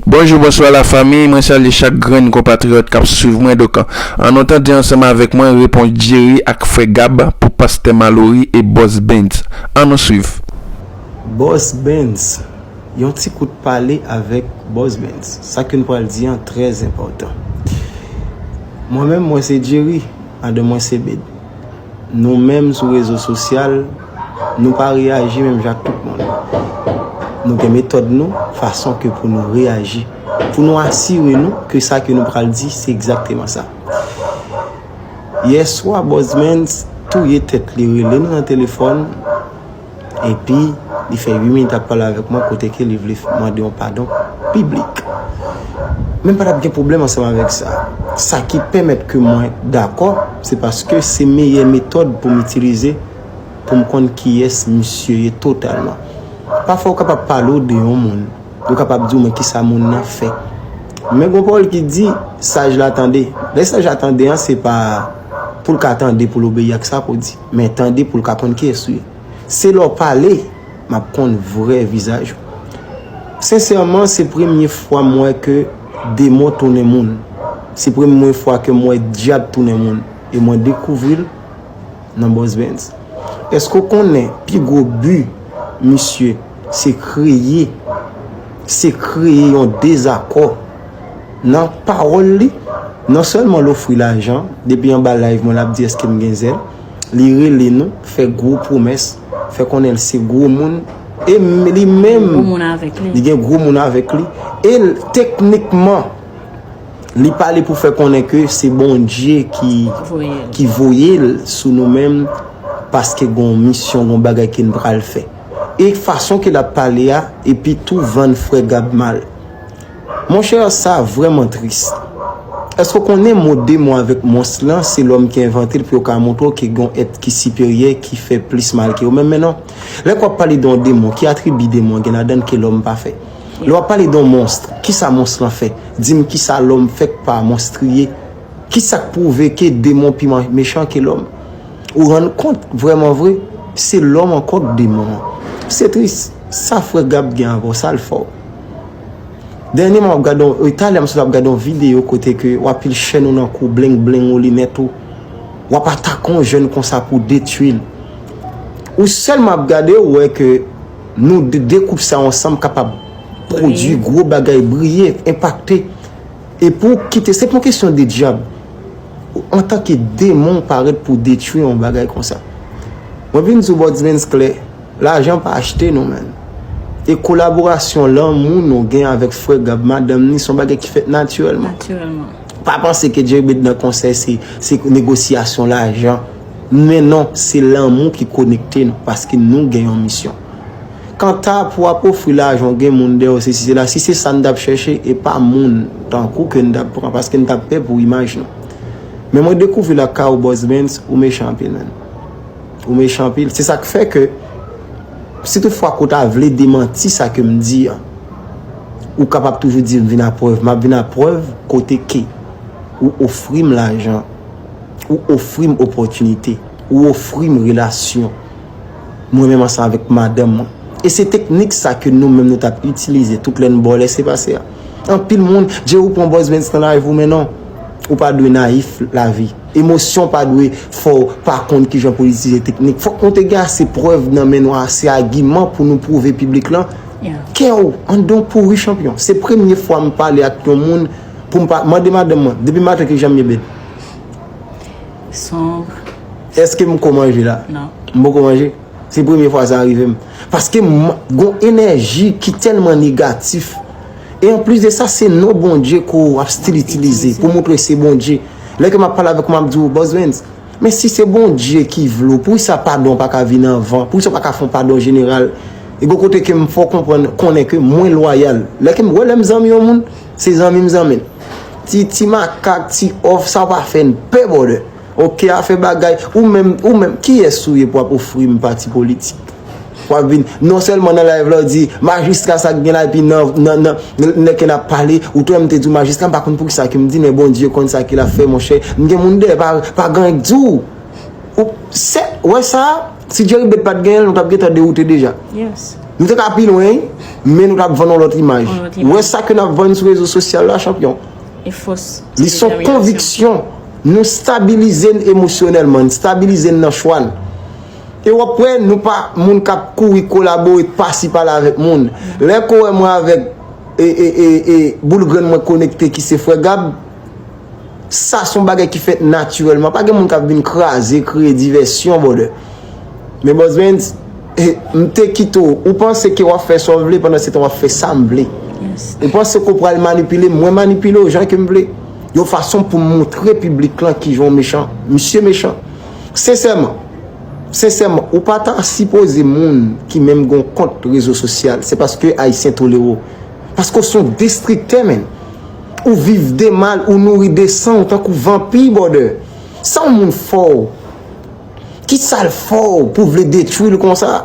Bonjou bonswa la famiy mwen salye chak grenn konpatriyòt kap swiv mwen donk an nou tande ansanm avèk mwen repons Jerry ak frè Gab pou pastè Malory e bòs Bens an nou swiv. Bòs Bens, Yon ti kout pale avèk bòs Bens, sa ke n pral di an trè enpòtan. Mwen menm mwen se Jerry, madanm mwen se Bed. Nou menm sou rezo sosyal. Nou pa reyaji menm jan ak tout moun. Nou gen metòd nou, fason ke pou nou reyaji. Pou nou asire nou ke sa ke nou pral di, se egzakteman sa. Yèswa, Bòzmens touye tèt li, rele m nan telefòn, epi li fè 8 minit ap pale avèk mwen kote ke li vle mande yon padon piblik. Men pa tap gen pwoblèm ansanm avèk sa. Sa ki pèmèt ke mwen dakò, se paske se meyè metòd pou m itilize. pou m konn kiyès misye ye totalman. Pafwa ou kapab pale ou de yon moun, yo kapab di ou men kisa moun nan fè. Men gon pawòl ki di, saj la tande. Lè saj la tande an se pa pou l ka tande pou l obeyi ak sa pou w di, men tande pou l ka konn kiyès ou ye. Se lè w pale, m ap konn vrè vizaj ou. Sensèman, se premye fwa m wè ke demon tounen moun. Se premwe fwa ke m wè dyab tounen moun. E mwen dekouvri l. Nan Boss Benz. Eske w konnen pi gwo bi misye se kreye se kreye yon dezakò nan pawòl li. Non sèlman l ofri lajan, depi anba live mwen l ap di eske m gen zèl. Li rele nou, fè gwo pwomès, fè konnen l se gwo moun e li menm li gen gwo moun avèk li e l teknikman. Li pale pou fè konnen ke se Bondye ki voye l sou nou menm paske gon misyon, gon bagay ke n pral fè. E fason ke l ap pale a, epi tou vann frè Gab mal. Mon chè, sa vrèman tris. Èske w konnen mo demon avèk mons lan, se lòm ki envante l pou yo ka montre w ke gon èt ki siperyè ki fè plis mal ke yo menm? Men non. Lè ke w ap pale de yon demon, ki atribi demon gen ladan l ke lòm pa fè? Lè wap pale don monstre, kisa monstre lan fè? Dim kisa lòm fè k pa monstriye? Kisak pwouve ke demon pi mechan ke lòm? Ou rann kont vrèman vre, se lòm ankò k demon an. Se tris, sa frè Gab gen avè w, sa l fè w? Dènyeman wap gade yon, e talè m sot ap gade yon videyo kote ke w ap pile chèn ou nan kou, bleng bleng ou, linèt ou, wap atake yon jèn konsa pou w detui l. Ou sèlman ap gade, ou wè ke. Nou 2 koup sa ansanm kapab pwodwi gwo bagay, briye, enpakte. E pou ou kite, se pa yon kesyon de dyab. Antanke demon ou parèt pou detwi yon bagay konsa. Mwen vin di w Bòdz Benz klè, lajan pa achte nou menn. E kolaborasyon lanmou nou gen avèk frè Gab madanm ni se yon bagay ki fèt natirèlman. Pa panse ke Djebed nan konsèy se negosyasyon lajan. Men non, se lanmou ki konekte nou, paske nou gen yon misyon. Kanta pou w ap ofri lajan ou gen moun dèyè w sesi sela, si se sa n t ap chèche, e pa moun tankou ke n t ap pran, paske n t ap pè pou imaj nou. Men mwen dekouvri lakay ou Boss Benz, ou mechan anpil man. Ou mechan anpil. Se sa k fè ke, si tout fwa ke w ta vle demanti sa ke m di an, ou kapab toujou di m vin a prèv. M ap vin a prèv kote ke ou ofri m lajan. Ou ofri m opòtinite. Ou ofri m relasyon. Mwen menm ansanm avèk madanm mwen. E se teknik sa ke nou menm nou t ap itilize tout lè n ba w lese pase a. Anpil moun, Dje ou pran Boys Vens nan layf ou men non. Ou pa dwe nayif lavi. Emosyon pa dwe fè w pa konn kijan pou w itilize teknik. Fòk nou te gen ase prèv nan men nou, ase agiman pou nou pwouve piblik lan ke w an don pouri chanpyon. Se premye fwa m pale ak yon moun Pou m pa mande madanm mwen. Depi maten ki jan m ye bèt? Sombre. Eske m ko manje la? Non. M poko manje? Se premye fwa sa rive m. Paske m gon enèji ki tèlman negatif. E an plis de sa se non Bondye ke w ap stil itilize pou moutre se Bondye. Lè ke m ap pale avèk ou m ap di ou Boss Vens, men si se Bondye ki vle w, poukisa padon an pa ka vini anvan? Poukisa w pa ka fè yon padon jeneral? E gen yon kote ke m fè w konprann, konnen ke mwen lwayal. Lè ke m wè lè m zanmi yon moun, Se zanmi m zanmi l. Ti ti makak ti òf sa pa fè n pè brother. Ok afè bagay ou menm ou menm kiyès ou ye pou ap ofri m pati politik. Wap vin non sèlman nan live la ou di majistra sa k gen la epi nan nan nan lè ke nap pale ou t wè m te di w majistra m pa konn poukisa ke m di men Bondye konn sa ke lap fè monchè m gen moun dèyè pa pa gan k di w ou se wè sa. Si Jerry bet pat genyenl nou tap gentan dewoute deja. Nou te ka pi lwen wi, men nou tap vann yon lòt imaj. Ou wè sa ke nap vann sou rezo sosyal la chanpyon. Li son konviksyon nou stabilize n emosyonèlman, n stabilize n nan chwa n. E wap wè nou pa moun kap kouri kolabore pasi pala avèk moun. Lè ke w wè mwen avèk e e e e boul grenn mwen konekte ki se frè Gab, Sa son bagay ki fèt natirèlman. Pa gen moun kap vin kraze, kreye divèsyon brother. Men Boss Benz, m te kite w. Ou panse ke wap fè sa w vle pandan se tan wap fè sa m vle. Ou panse ke w pral manipile m, mwen manipile w jan ke m vle. Yon fason pou m montre piblik lan kijan w mechan. Misye mechan. Sensèman, sensèman, ou pa ta sipoze moun ki menm gen yon kont rezo sosyal. Se paske Ayisyen tolere w. Paske w son destriktè menn. Ou viv de mal ou nouri de san ou tankou vanpi bòdè Sa yon moun fòw Kisal fòw pou vle detwil konsa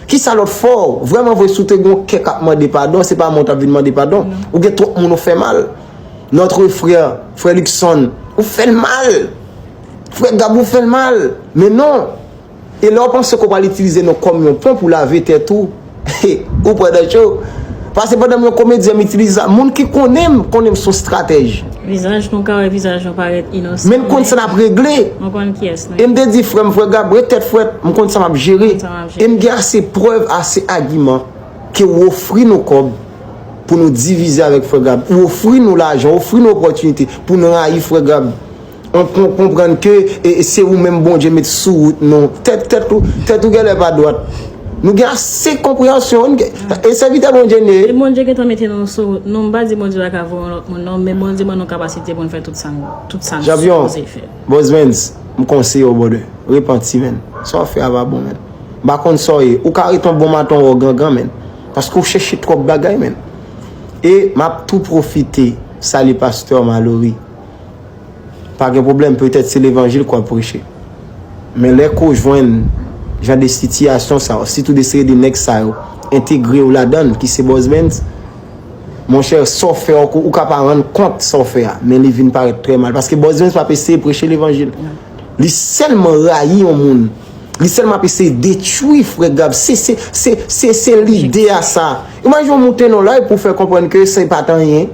Kisa lòt fòw Vrèman vre si w te gen yon kè kap mande padon se pa mwen w tap vin mande padon Ou gen twòp moun ou fè mal Notre frère Frè Luckson ou fèl mal Frè Gab ou fèl mal Men non E lè w panse ke w pral itilize nou kòm yon pon pou w lave tèt ou, ou pran nan cho. Pase pandan m yon komedyen, m itilize sa. Moun ki konnen m, konnen m son stratèj. Vizaj nou, ka wè vizaj nou parèt inosan. Men m konn sa n ap regle. Nou konn kiyès nou ye. E m te di frè m, frè Gab, ret tèt frèt, m konn sa m ap jere. E m gen ase prèv, ase agiman, ke ou ofri nou kòb pou nou divize avèk frè Gab. Ou ofri nou lajan, ou ofri nou opòtinite pou nou rayi frè Gab. On konprann ke se ou menm Bondye met sou wout nou. Tèt ou gèlè pa dwat. Nou gen ase konpreyansyon. E sèvitè Bondye n ye. Bondye gentan mete nou sou wout nou. M pa di Bondye pa ka voye yon lòt moun non. Men Bondye ban nou kapasite pou n fè tout sa n sipoze fè. Bosmens, m konseye w brother. Repanti menn. Sa w ap fè a pa bon menn. M pa konn sa w ye. Ou ka ret yon bon maton wè w gangan menn. Paske w chèche twòp bagay menn. E m ap tou pwofite sali pastè Malory. pa gen pwoblèm petèt se levanjil ke wap preche men lè ke w jwenn jan de sitiyasyon sa yo sitou de seri de nèg sa yo entegre w ladann ki se Bòz Benz mon chè sa w fè ou ka pa rann kont sa w fè a men li vin parèt trè mal paske Bòz Benz pap eseye preche levanjil li sèlman rayi yon moun li sèlman ap eseye detwi frè Gab se se se se se lide a sa imajine w moute nan live pou w fè konprann ke se pat anyen.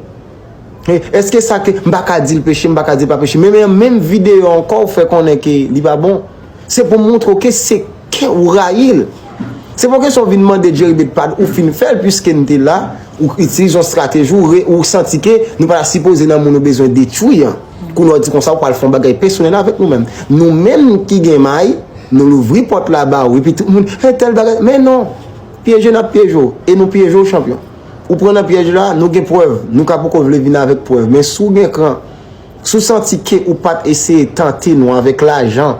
Eske sa ke m pa ka dil peche, m pa ka dil pa peche. Men men an menm video ankò ou fè konnen ke li pa bon. Se pou moutre w ke se ke ou rayi l. Se pa yon kesyon ou vin mande Jeribed padon, ou fin fè l puiske n te la, ou itilize yon strateji ou re, ou santi ke nou pa ta sipoze nan moun ou bezwen detwi an. Kounye a ou di konsa ou pral fè yon bagay pesonèl avèk nou menm. Nou menm ki gen may, nou louvri pòt la ba ou epi tout moun, he tèl bagay, men non! Pyeje n ap pyeje w e nou pyeje w chanpyon. Ou pran nan pyèj la, nou gen prèv. Nou ka poko vle vin avèk prèv. Men si w gen kran, si w santi ke ou pa t eseye tante nou avèk lajan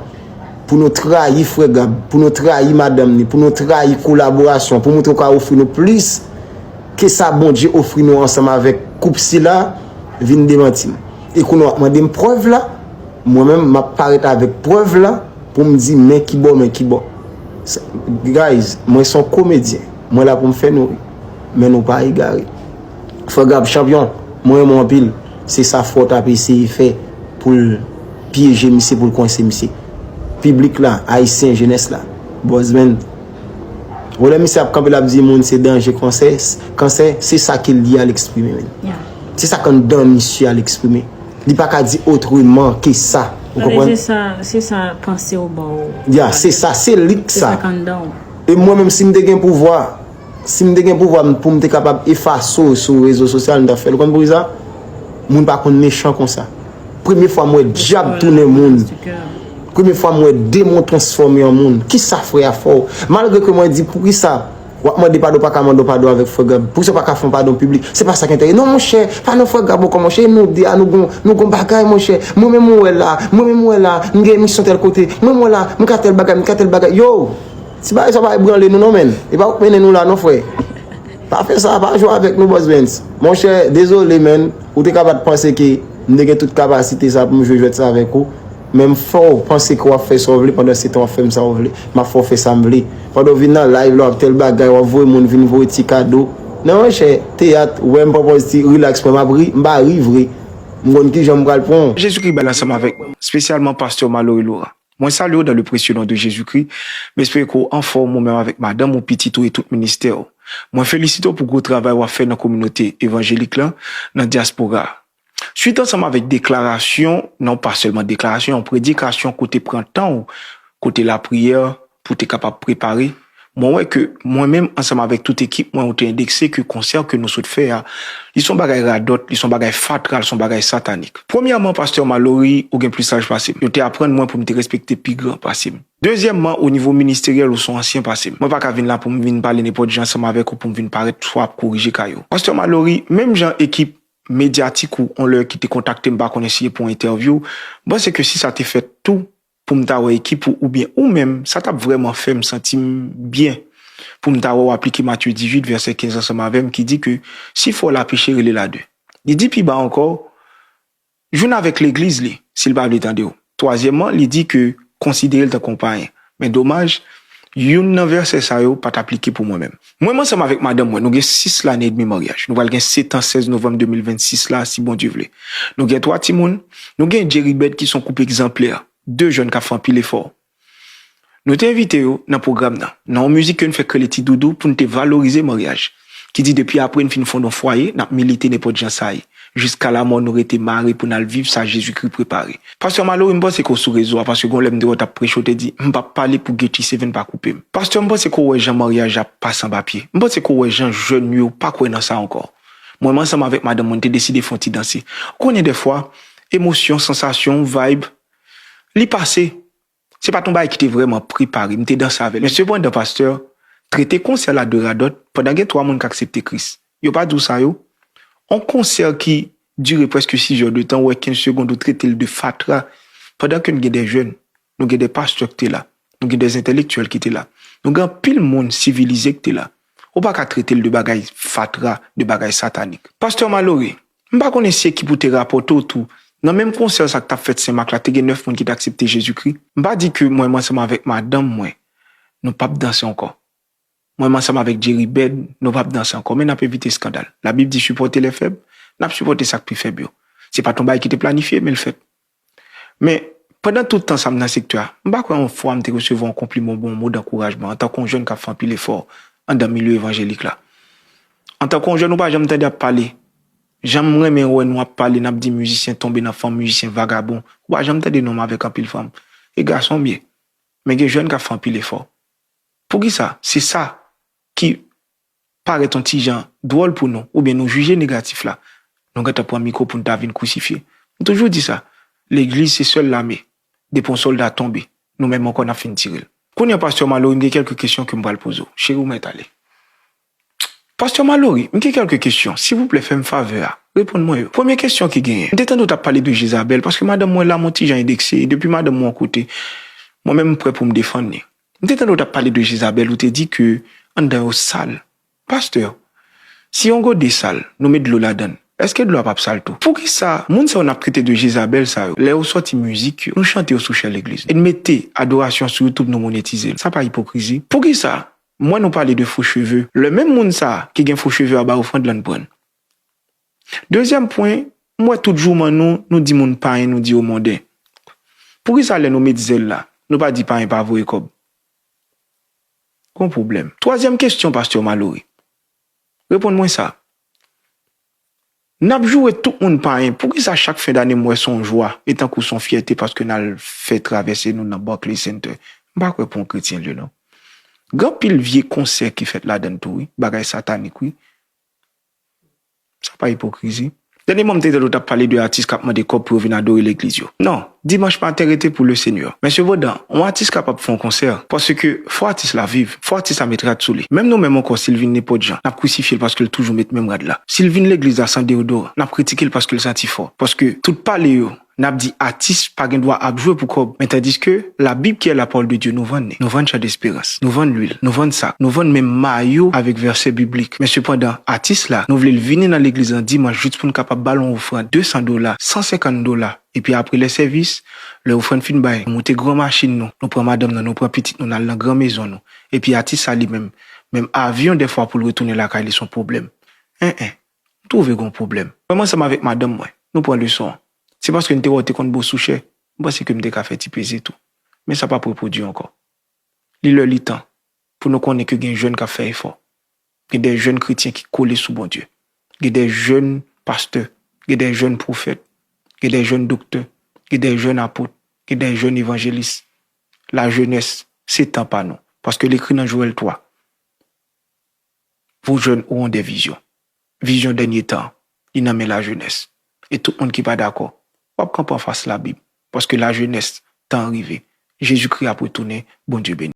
pou nou trayi frè Gab, pou nou trayi madanm ni, pou nou trayi kolaborasyon, pou moutre w ka ofri nou plis ke sa Bondye ofri nou ansanm avèk koup sila, vin demanti m. E kounye a w ap mande m prèv la? Mwen menm, m ap parèt avèk prèv la pou m di men kibò men kibò. Guys, mwen se yon komedyen. Mwen la poum fè nou ri. Men nou pa egare. Frè Gab chanpyon, mwen renmen w anpil. Se sa Fort ap eseye fè pou l pyeje misye, pou l kwense misye. Piblik la, Ayisyen, jenès la. Buzzman. Wè lè misye ap kanpe l ap di moun se danje konsè, kansè, se sa ke l di a l eksprime menn. Se sa k anndan misye a l eksprime. Li pa ka di otreman ke sa. Ou konprann? Se sa, se sa panse w ba w. Ya, se sa, se lik sa. Se sa k anndan w. E mwen menm si m te gen pouvwa, si m te gen pouvwa m pou m te kapab efase w sou rezo sosyal m ta fè l. Ou konn poukisa? Moun pa konn mechan konsa. Premye fwa m wè dyab tounen moun. Premye fwa m wè demon transfòme an moun. Kisa frè a fè w? Malgre ke mwen di poukisa w ap mande padon ou pa ka mande yon padon avèk frè Gab? Poukisa ou pa ka fè yon padon piblik? Se pa sa k enterese. Non monchè, pa nan frè Gab ankò monchè. E nou de a nou gen yon, nou gen yon bagay monchè. Mwen menm ou wè la, mwen menm ou wè la, m gen emisyon tèl kote. Mwen menm ou wè la, m ka tèl bagay, m ka tèl bagay. Yow! Ti bagay sa pa ebranle nou non menn. E pa ou k mennen nou la non frè. Pa fè sa, pa jwe avèk nou Boss Bens. Monchè, dezole menn, ou te ka pa t panse ke m te gen tout kapasite sa pou m jwe jwèt sa avèk ou. Men m fè w panse ke w ap fè sa w vle pandan se tan w ap fè m sa w vle. M ap fè w fè sa m vle. Pandan w vin nan live la w ap tèl bagay, w ap voye moun vin voye ti kado. Non monchè, teyat, ou wè m pwopòz ti rilaks mwen m ap ri, m pa ri vre. M konn kijan m pral pran w. Jezikri bay l ansanm avèk nou, spesyalman Pastè Malory Laurent. Mwen salye w dan le presye non de Jezikri. M espere ke w anfòm ou menm avèk madanm ou, pitit ou e tout ministè w. Mwen felisite w pou gwo travay w ap fè nan kominote evanjelik lan nan dyaspora a. Suit ansanm avèk deklarasyon, non pa sèlman deklarasyon, yon predikasyon kote pran tan w, kote lapriyè pou te kapab prepare. Mwen wè ke mwen menm ansanm avèk tout ekip mwen ou te endekse ke konsè ke nou sot fè a, li son bagay radòt, li son bagay fatra, li son bagay satanik. Premyèman, Pastè Malory, ou gen plis saj pase m. Yo te aprann mwen pou m te respekte pi gran pase m. Dezyèmman, o nivo ministeryèl ou son ansyen pase m. Mwen pa ka vin la pou m vin pale nenpòt jan ansanm avèk ou pou m vin parèt swa ap korije kay ou. Pastè Malory, menm jan ekip medyatik ou on lè ki te kontakte m pa konnen si e pou entèvyou, m panse ke si sa te fèt tou, Pou m ta wè ekip ou oubyen ou menm, sa t ap vrèman fè m santi m byen pou m ta wè w aplike Matye 18, vèsè 15 ansanm avè m ki di ke si frè w la peche, rele l a de. Li di pi ba ankò, Jwenn avèk legliz li, si l pa vle tande w. Twazyèmman, li di ke konsidere l tankou yon payen. Men domaj, youn nan vèsè sa yo pa t aplike pou mwen menm. Mwen m ansanm avèk madanm mwen, nou gen 6 lane edmi maryaj. Nou pral gen 7 an 16 novanm 2026 la a si Bondye vle. Nou gen 3 timoun, nou gen Djeribèd ki son koup egzanplè, 2 jèn k ap fè anpil efò. Nou te envite yo nan pwogram nan, nan yon mizik ke n fè k rele Ti Doudou pou n te valorize maryaj, ki di depi apre n fin fonde yon fwaye, n ap milite nenpòt jan sa ye. Jiska lamò nou rete mare pou n al viv sa Jezikri prepare. Pastè Malory m panse ke w sou rezo a paske gon lè m te wè w t ap preche w te di m p ap pale pou Guetty Seven pa koupe m. Pastè m panse ke w wè jan maryaj la pase anba pye. M panse ke w wè jan jèn nou yo pa kwè nan sa ankò. Mwen menm ansanm avèk madanm mwen n te deside fè yon ti danse. Ou konnen dèfwa, emosyon, sansasyon, vibe, li pase. Se pa t yon bagay ki te vrèman prepare, m te danse avè l. Men sepandan, pastè, trete konsè la de radòt, pandan gen twa moun k aksepte Kris. Yo pa di w sa yo? On konsè ki dire prèske sizè de tan, ou wè kenz segond ou trete l de fatra, pandan ke n gen de jèn, nou gen de pastè k te la, nou gen de zentèlektyèl ki te la, nou gen anpil moun sivilize k te la. Ou pa ka trete l de bagay fatra, de bagay satanik. Pastè malore, M pa konnen si ekip ou te rapòte w tou, nan menm konsè sa k t ap fèt Senmak la, te gen nèf moun ki te aksepte Jezikri. M pa di ke mwen m ansanm avèk madanm mwen, nou p ap danse ankò. Mwen m ansanm avèk Jeribèd, nou p ap danse ankò. Men n ap evite eskandal. Labib di sipòte lèfèb, n ap sipòte sa k pi fèb yo. Se pa t yon bagay ki te planifye, men l fèt. Men, pandan tout tan sa m nan sektè a, m pa kwè yon fwa m te resevwa yon konpliman oubyen yon mo dankourajman antanke yon jèn k ap fè anpil efò anndan milye evanjelik la. Antanke yon jèn ou pa janm tande ap pale, jan m renmen wè nou ap pale n ap di mizisyen tonbe nan fanm, mizisyen vagabon, ou pa janm tande non m avèk anpil fanm. E gason m ye. Men gen jèn k ap fè anpil efò. Poukisa? Se sa ki parèt on ti jan dwòl pou nou oubyen nou jije negatif la, nou gentan pran mikwo pou n ta vin krisifye. M toujou di sa, legliz se sèl lame, depi on sòlda tonbe, nou menm ankò n ap fin tire l. Kounye a pastè Malory m gen kèlke kesyon ke m pral poze w, cheri w mèt ale. Pastè Malory, m gen kèlke kesyon, silvouplè fè m favè a, reponn mwen yo. Premye kesyon ki genyen, m te tande w t ap pale de Jezabèl, paske madanm mwen la m on ti jan endekse, e depi madanm mwen on kote, mwen menm m prè pou m defann li. M te tande w tap pale de Jezabèl ou te di ke anndan yo sal. Pastè, si yon gode sal, nou met dlo ladann, èske dlo a pap sal tou? Poukisa moun sa yo nap trete de Jezabèl sa yo, lè yo sòti mizik yo, nou chante yo sou chè legliz e n mete adorasyon sou youtube nou monetize l, sa pa ipokrizi? Poukisa m wè nou pale de fo cheve, lè menm moun sa ki gen fo cheve a bay ofrand lan n pran l? Dezyèm pwen, m wè tout jouman nou, nou di moun payen nou di yo monden. Poukisa lè nou met zèl la, nou pa di payen pa voye kòb? Gon pwoblèm. Twazyèm kesyon pastè Malory, reponn mwen sa, n ap joure tout moun payen, poukisa chak fen dane m wè s on jwa e tankou s on fyète paske n al fè travèse nou nan Barclays Center? M pa kwè pou on kretyen l ye non. Gen anpil vye konsè ki fèt ladann tou wi, bagay satanik wi. Sa pa ipokrizi? Dènye mwa m te tande w t ap pale de atis k ap mande kòb pou yo vin adore legliz yo. Non, dimanch maten rete pou le Seigneur. Men sepandan, on atis kapab fè on konsè, paske fò atis la viv, fò atis la met rad sou li. Menm nou menm ankò si l vin nenpòt jan, n ap krisifye l paske l toujou met menm rad la. Si l vin legliz la san deyodoran, n ap kritike l paske l santi fò. Paske tout pale yo. Nap di atis pa gen dwa ap jwe pou kòb men tandiske la bib ki è la pawòl de Dye nou vann li nou vann chan desperans nou vann lwil nou vann sak nou vann menm mayo avèk vèsè biblik men sepandan atis la nou vlel vini nan legliz lan dimanch jus poun kapab bal on ofrann 200 dola 150 dola epi apre lè sèvis lè ofrann fin bay nou moute gran machin nou nou pran madanm nan nou pran pitit nou nal nan gran mezon nou epi atis sa li menm menm avyon dèfwa poul retounen lakay li son pwoblèm en en. M twouve gon pwoblèm. Mwen ansanm avèk madanm mwen, nou pran leson an. Se paske n te wè w te konn bo sou chè, m panse ke m te ka fè ti plezi tou. Men sa p ap repwodui ankò. Li lè li tan pou nou konnen ke gen jèn k ap fè efò. Gen de jèn kretyen ki kole sou Bondye. Gen de jèn pastè. Gen de jèn pwofèt. Gen de jèn doktè. Gen de jèn apot. Gen de jèn evanjelis. Lajenès, se tan pa nou. Paske l ekri nan Jowèl 3. Pou jèn ou on dè vizyon. Vizyon dènye tan an. Li nan men lajenès. E tout moun ki pa dakò. W ap kanpe anfas Labib. Paske lajenès, tan an rive. Jezikri ap retounen. Bondye beni.